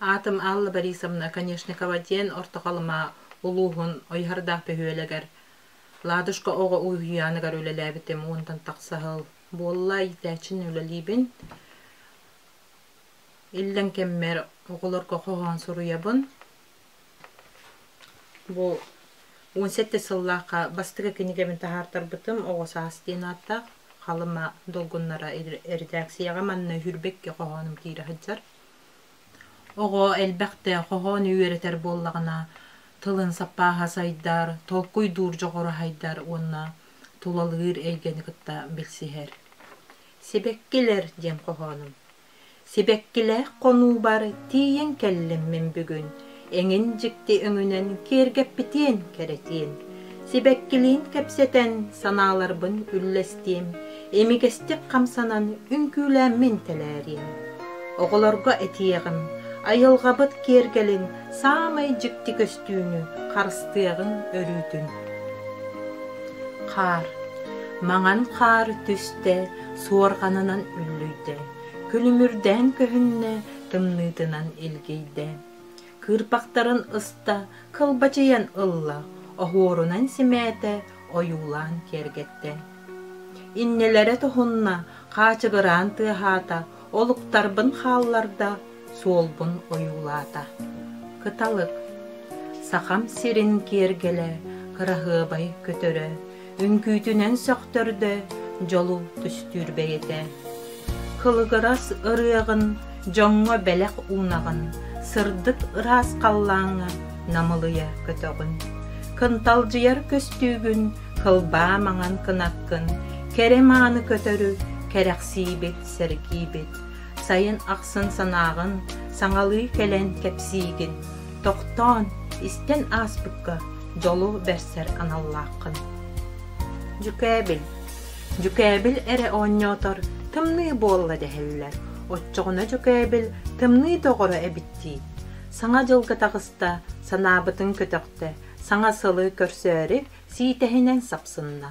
Аатым Алла Борисовна Конешникова диэн Орто Халыма улууһун Ойуһардаах бөһүөлэгэр Ладушка оҕо уһуйааныгар үлэлээбитим уонтан тахса сыл буолла иитээччинэн үлэлиибин. Иллэҥ кэммэр оҕолорго хоһоон суруйабын. Бу он сэттэ сыллаахха бастакы кинигэбин таһаартарбытым «Оҕо саас» диэн ааттаах Халыма долгуннара редакцияҕа манна Үрбэкки хоһоонум киирэ сылдьар. Оҕо элбэхтэ хоһоону үөрэтэр буоллаҕына, тылын саппааһа сайдар, толкуйдуур дьоҕураһайдар уонна тулалыыр эйгэни кытта билсиһэр. Сибэккилэр диэн хоһоонум. Сибэккилээх хонуубар тиийэн кэллиммин бүгүн эҥин дьикти өҥүнэн киэргэппитиэн кэрэтиэн, сибэккилиин кэпсэтэн санааларбын үллэстиэм, имигэстик хамсанан үҥкүүлээммин тэлээриэм. Оҕолорго этиэҕим, айылҕабыт киэргэлин саамай дьикти көстүүнү харыстыаҕыҥ өрүүтүн. Хаар Маҥан хаар түстэ, суорҕанынан үллүйдэ, күлүмүрдээн көһүннэ, тымныытынан илгийдэ. кыырпахтарын ыста, кылбачыйан ылла, оһуорунан симээтэ, ойуулаан киэргэттэ. Иннилэрэ тоһунна, хаачыгыраан тыаһаата, олуктарбын хаалларда, суолбун ойуулаата. Кыталык, Сахам сирин киэргэлэ, кыраһыабай көтөрө, үҥкүүтүнэн сөхтөрдө, дьолу түстүүр бэйэтэ. Кылыгырас ырыаҕын, дьоҥҥо бэлэх уунаҕын, сырдык ыраас халлааҥҥа намылыйа көтөҕүн. Кынталдьыйар көстүүгүн, кылбаа маҥан кынаккын, кэрэ мааны көтөрү кэрэхсиибит, сэргиибит. Сайын ахсын санааҕын, саҥалыы кэлэн кэпсиигин. Тохтоон, истэн ааспыкка Дьолу бэрсэр аналлааххын. Дьүкээбил Дьүкээбил эрэ оонньоотор тымныы буолла дэһэллэр. Оччоҕуна Дьүкээбил тымныы доҕоро эбит дии. Саҥа дьылга таҕыста, санаабытын көтөхтө, саҥа сылы көрсөөрү сиитэһинэн сапсынна.